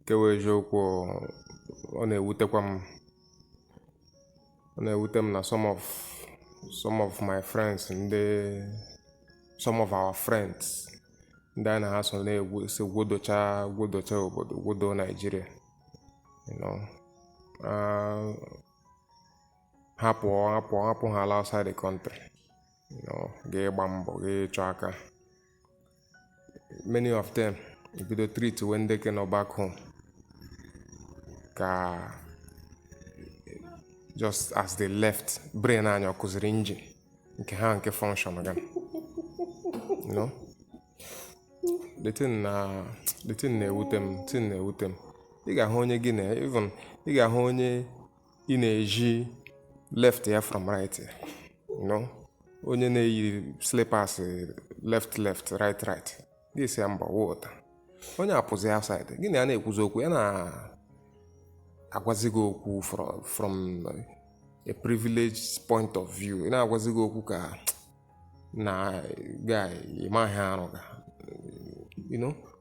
nke wụ eziokwu ọ na-ewutekwa m ọ na-ewute m na some of some of my friends ndị some of our friends ndị anyị na ha so na-esi gwodocha gwodocha obodo gwodo naijiria you know uh, ha pụọ ha pụọ ha apụhaala outside the country you know ga ịgba mbọ ga ịchọ aka many of them ebido treatiwe ndị ke nọ back home ka just as they left brain anyị akụziri engine nke ha nke function ga you know the thing na the thing na-ewute m thing na-ewute m ị ga-ahụ onye gị na even ị ga-ahụ onye ị na-ezi left ya from right ya you know onye na-eyi slippers eh, left left right right gị sị ya mba wota onye apụzi outside gị na ya na-ekwuzi okwu ya na-agwazi gị okwu fro- from a privileged point of view ị na-agwazi gị okwu ka na guy ị maghị arụ ga you know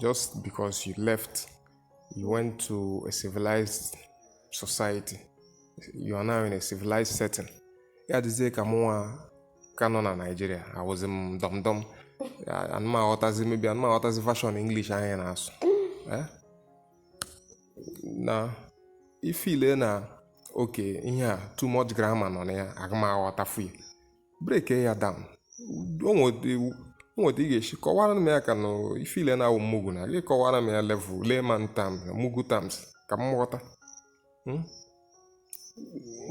just because you left, you went to a civilized society. You are now in a civilized setting. Ya dịzie ka mụnwa ka nọ na Naịjirịa awụzi m dumb dumb anụ m aghọtazi maybe anụ m aghọtazi version English anyị na-asụ eh? na ị feel na okay ihe a too much grammar nọ na ya agụ m aghọtafu ya breakie ya down o nwe otu ị ga-esi kọwara m ya ka na ị feel na awụ m mugu na gị kọwara m ya level layman terms mugu terms ka m ghọta hmm?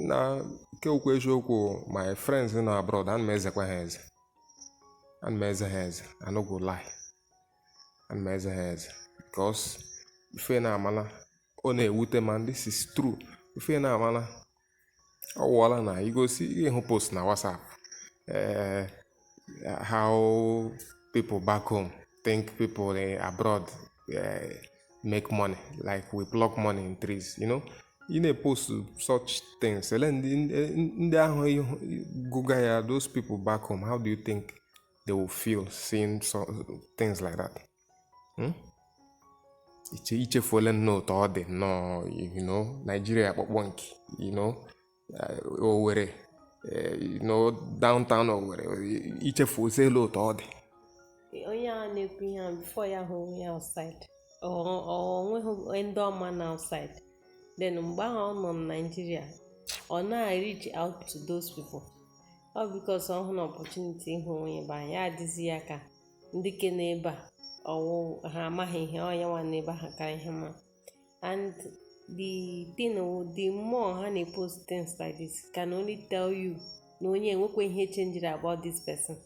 na nke okwu eziokwu my friends na abroad ana m ezekwa ha eze ana m eze ha eze I no go lie ana m eze ha eze because ife na-amala ọ na-ewute m and this is true ife na-amala ọ wụọla na you go see you hụ post na whatsapp uh, how people back home think people in abroad uh, make money like we pluck money in trees you know ị na-epost such things ele ndị ndị ahụ gụga ya those people back home how do you think they will feel seeing so, things like that hmm? i che- i chefuola nnọọ otu ọ dị nnọọ you know Nigeria akpọkpọ nke you know eh, Owerri eh, you know downtown Owerri i chefuoziela otu ọ dị onye a na-ekwu ihe a before ya ahụ onwe ya outside ọ ọ- o nweghị ndị ọ ma na outside then mgbe ahụ ọ nọ na Naịjirịa ọ na-reach out to those people all because ọ hụna opportunity ịhụ onwe ya n'ebe ahụ ya adịzi ya ka ndị ke n'ebe a ọwụ ha amaghị ihe ọ ya nwa n'ebe ahụ kara ihe ma and the thing wụ the more ha na-epost things like this can only tell you na onye enwekwa ihe chenjiri about this person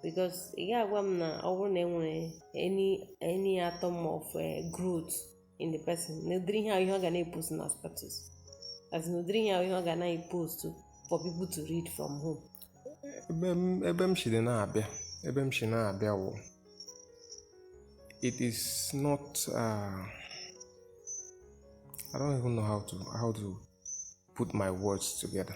because ị ga-agwa m na ọ bụrụ na enwere any any atom of eh, growth in the person na ụdịrị ihe ahụ ihe ọ ga na-epost na status as in ụdịrị ihe ahụ ihe ọ ga na-epost for people to read from home ebe m shiri na-abịa ebe m shi na-abịa wụ it is not uh, I don't even know how to how to put my words together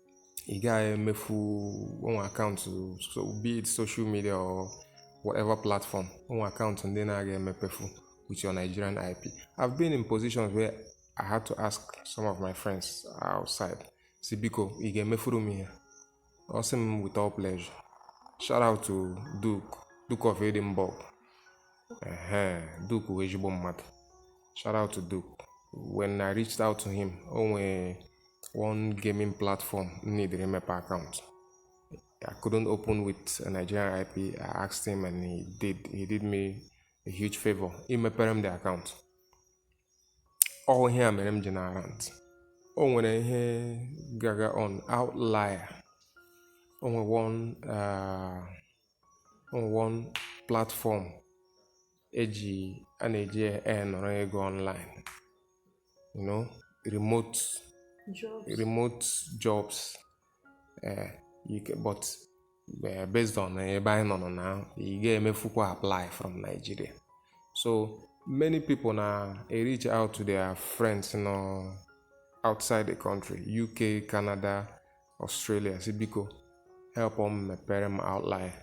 ị gaghị emefu o nwe account be it social media or whatever platform o nwe account ndị na-aga emepefu with your Nigerian IP I've been in positions where I had to ask some of my friends outside sị biko ị ga-emefuru m ihe a ọ sị m with all pleasure shout out to Duke Duke of Edinburgh ehe Duke wụ ezigbo mmadụ shout out to Duke when I reached out to him o nwere one gaming platform m needịrị imepe account I couldn't open with a Nigerian IP. I asked him and he did. He did me a huge favor. imepere m the account. All ihe a mere m ji na-arant. O nwere ihe gaga on outlier. O nwere one uh, on one platform eji a na-eji enọrọ ego online you know remote Jobs. remote jobs eh, you can, but eh, based on ebe anyị nọ na ị ga-emefukwa apply from Nigeria so many people na-ereach out to their friends nọ outside the country UK Canada Australia si biko help m mepere m outline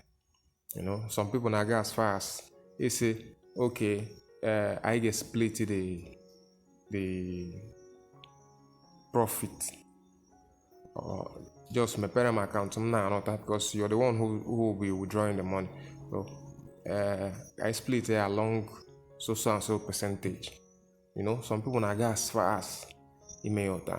you know some people na-aga as far as ịsị okay uh, anyị ga-split the the profit or just mepere m akaụntụ m na-anọta because you're the one who, who will be withdrawing the money so uh, I split it along so so and so percentage you know some people na-aga as far as ime ya ụta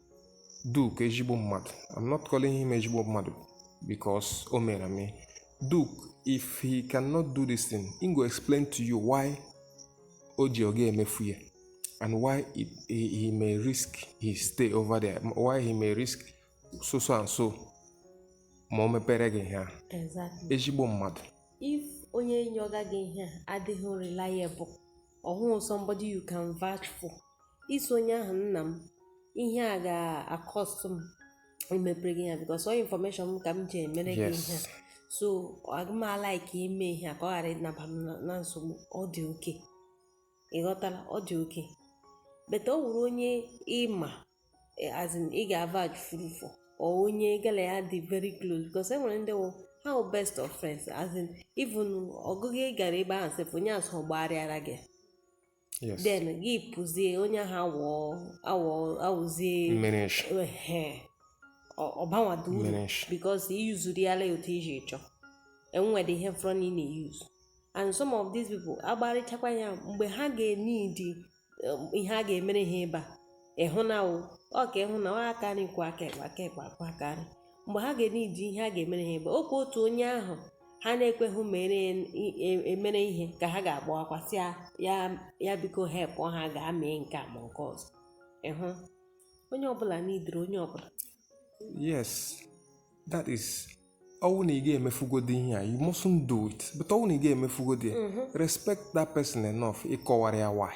Duke ezigbo mmadụ I'm not calling him ezigbo mmadụ because o mere m Duke if he cannot do this thing he go explain to you why o ji ọ ga-emefu ya and why it, he, he may risk his stay over there why he may risk so so and so ma o mepere gị ihe a exactly ezigbo mmadụ if onye yọga gị ihe a adịghị reliable or somebody you can vouch for ị sị onye ahụ nna m ihe a ga-acost m imepere gị ya because ọ information m ka m ji emere gị ihe so agaghị m alike ime ihe a ka ọ ghara ịnaba m na nsogbu ọ dị okay ị ghọtala ọ dị okay but ọ wụrụ onye ị ma eh, as in ị ga-avouch for or onye gị la ya dị very close because e nwere ndị wụ ha wụ best of friends as in even ọgịga ị gara ebe ahụ sef onye a so gbagharịara gị then gị pụzie onye ahụ awụ awụ awụzie ọ banwado uru because i useriala ya otu i shi chọọ enwere ihe fọrọnụ ị na-euse and some of these people agbarịchakwa ya mgbe ha ga-eneed um, ihe a ga-emere ha ịba ịhụ na wụ ọ ka ịhụ na ọ aka nri kwọọ aka ekpe aka ekpe akwọọ aka nri mgbe ha ga-enidi ihe a ga-emere ha ebe okwu otu onye ahụ ha na-ekweghị mere emere ihe ka ha ga-agbawakwa sị ya ya biko help ha gaa mee nke a ma nke ọzọ ịhụ onye ọbụla nidiri onye ọbụla yes that is ọwụ na ị ga-emefugodi ihe a you mustn't do it but ọwụ na ị ga-emefugodi ya respect that person enough ịkọwara ya why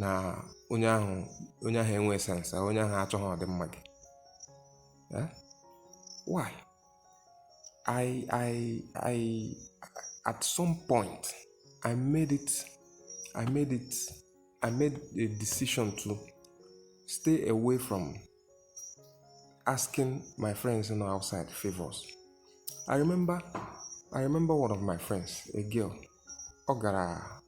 na onye ahụ onye ahụ enwe sense onye ahụ achọghị ọdịmma gị eh? why I I I at some point I made it I made it I made a decision to stay away from asking my friends in outside favors. I remember I remember one of my friends, a girl, ọ gara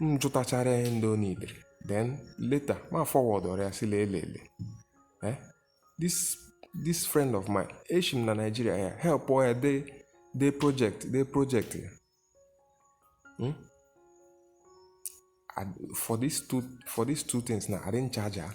m jụtachara ihe ndị o nidere then later ma forwardụrụ ya sị lelele eh this this friend of mine eshi m na Nigeria ya help ya dee dee project dee project ya hmm? for these two for these two things now I didn't charge her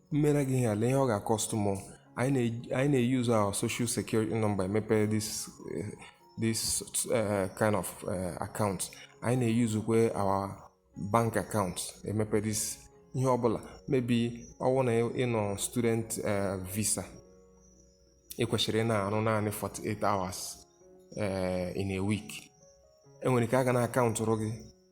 m mere gị ihe a lee ihe ọ ga-akọstụ mụ anyị na-euse our social security number emepe this eh, this eh, kind of eh, account anyị na-eusekwa our bank account emepe this ihe ọbụla maybe ọwụ na ị nọ student visa ị kwesịrị ịna-arụ naanị 48 hours in a week e nwere ike a ga na-akaụntụrụ gị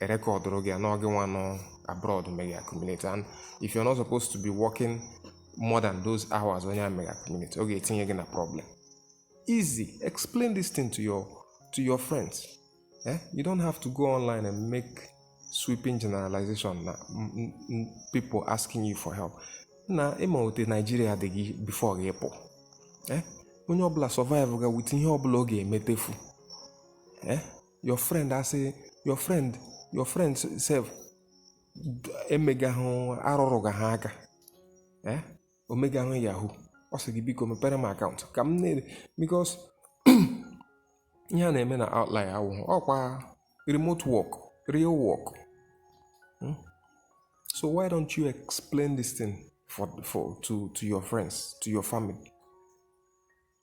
erekọdụrụ gị ya na ọ gị nwa nọ abroad mega accumulate and if you're not supposed to be working more than those hours onye a mega accumulate ọ ga-etinye gị na problem easy explain this thing to your to your friends eh? you don't have to go online and make sweeping generalization na m- m- m- people asking you for help na ị ma otu Nigeria dị gị before gị apụ eh? onye ọbụla survive ga with ihe ọbụla ọ ga-emetefu eh? your friend asị your friend your friend sef emegahụ arụrụ ga ha aka eh? o megahụ yahoo ọ sị gị biko mepere m akaụntụ ka m na-ere because ihe a na-eme na Outlier wụ ọkwa remote work real work hmm? so why don't you explain this thing for, for to, to your friends to your family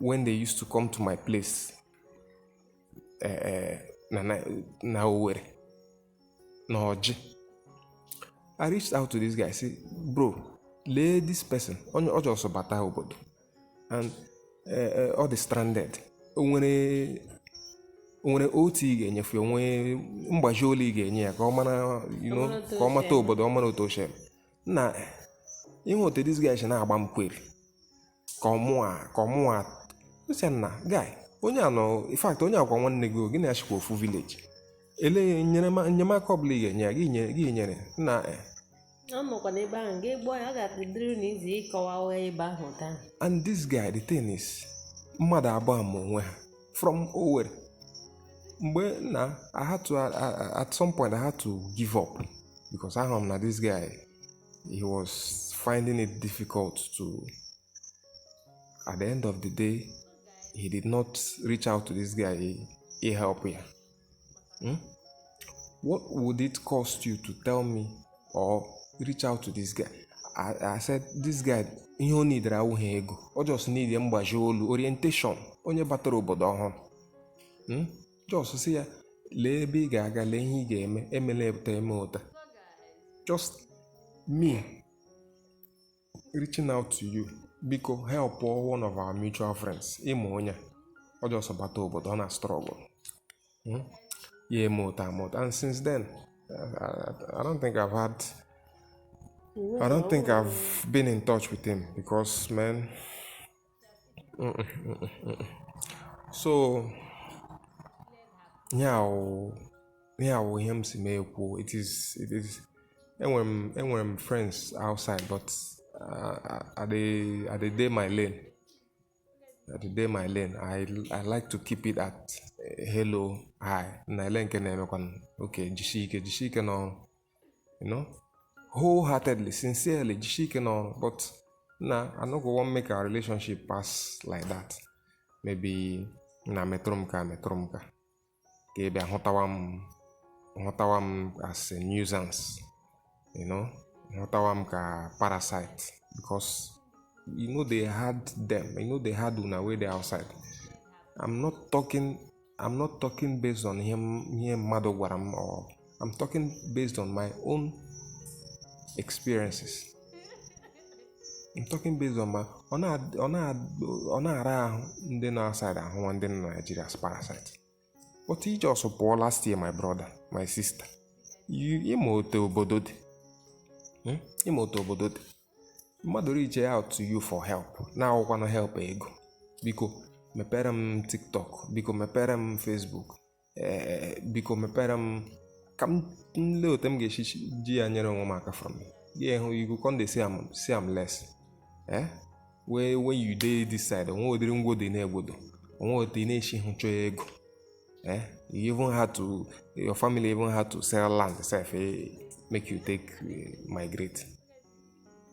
when they used to come to my place uh, uh, na, na, na Owerri, na Orji. I reached out to this guy, say, bro, lee this person, onye ọ just bata obodo, and uh, ọ dị stranded. O nwere o nwere OT ị ga-enyefu o nwe mgbazi ole ị ga-enye ya ka ọ mara you know, ka ọ mata obodo ọ mara otu o shi, nna, ị hụ otu this guy si na-agba m query ka ọmụa ka ọmụa sị ya nna guy onye a nọ in fact onye a wụkwa nwanne gị gị na ya shikwa ofu village ele enyemaka ọbụla ị ga-enye ya gị nyere gị nyere na eh. anọkwa n'ebe ahụ gị gbụọ ya ọ ga-adịrị na easy ịkọwa ụgha ebe ahụ taa and this guy the thing is mmadụ abụọ ma onwe ha from Owerri mgbe na I had to at some point I had to give up because ahụrụ m na this guy he was finding it difficult to. At the end of the day, he did not reach out to this guy. He, he helped him. Hmm? What would it cost you to tell me or reach out to this guy? I, I said, this guy, ihe o nidere awụghị ego. O just need mgbaji olu, orientation, onye batara obodo ọhụrụ. Hmm? just sị ya lee ebe ị ga-aga lee ihe ị ga-eme emela otu a eme otu a just me reaching out to you biko help one of our mutual friends ị ma onye ọ just bata obodo ọ na struggle hmm? ya eme otu a eme otu a and since then I don't think I've had I don't think I've been in touch with him because man so ihe a wụ ihe a wụ ihe m si mee kwuo it is it is enwere m enwere m friends outside but uh, I dey I dey dey my lane I dey dey my lane I I like to keep it at eh, hello hi na ele nke na-emekwanụ okay jisie ike jisie ike n'ọrụ you know wholeheartedly sincerely jisie ike n'ọrụ but na i no go wan make our relationship pass like that maybe na metụrụ m ka metụrụ m ka ka ị bịa hụtawa m hụtawa m as a nuisance you know hụtawa m ka parasite because you know they had them you know they had una wey dey outside i'm not talking I'm not talking based on ihe ihe mmadụ gwara m or I'm talking based on my own experiences I'm talking based on my ọ na-ara ahụ ndị nọ outside ahụwa ndị nọ Nigeria as parasite but ị just pụọ last year my brother my sister ị ma otu obodo dị hmm? ị ma otu obodo dị mmadụ reach out to you for help na-awụkwanụ help ego biko mepere m tiktok biko mepere m facebook eh, biko mepere m ka m lee otu m ga-esi ji ya nyere onwe m aka from gị you go come dey see am see am less eh? wee when you dey this side o nwe ụdịrị ngwodo ị na-egwodo o nwe otu ị na-esi hụ chọọ ego eh? you even had to your family even had to sell land sef eh? make you take eh, migrate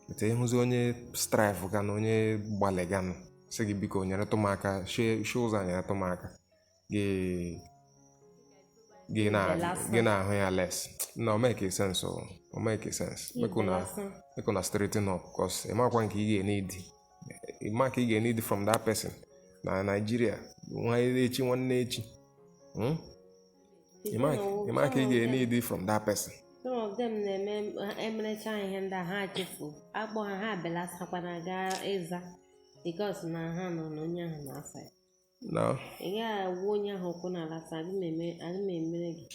etu ị hụzi onye strive ga na onye gbalịganụ sị gị biko nyeretụ m aka shie shie ụzọ a nyeretụ m aka gị gị na Belasa. gị na-ahụ ya less e no make sense o o make sense make una Belasa. make una straighten up cos ị makwa nke ị ga-e need ị ma ka ị ga-e need from that person na Nigeria nwa echi nwanne echi Hmm? Ịma ka ị ga-need from that person. Some of them na-eme emerecha ihe ndị a ha chefuo akpọ ha ha belasakwana gaa ịza because na ha nọ na onye ahụ na-asa ya. No. Ị gaghị agwa onye ahụ okwu n'ala sị adị m emere gị.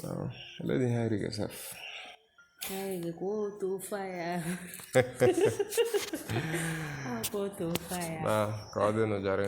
No. Let him hide yourself. Hide gị kwuo otu ofe ya. Kwuo otu ofe ya. Na ka ọ dị nụ jara.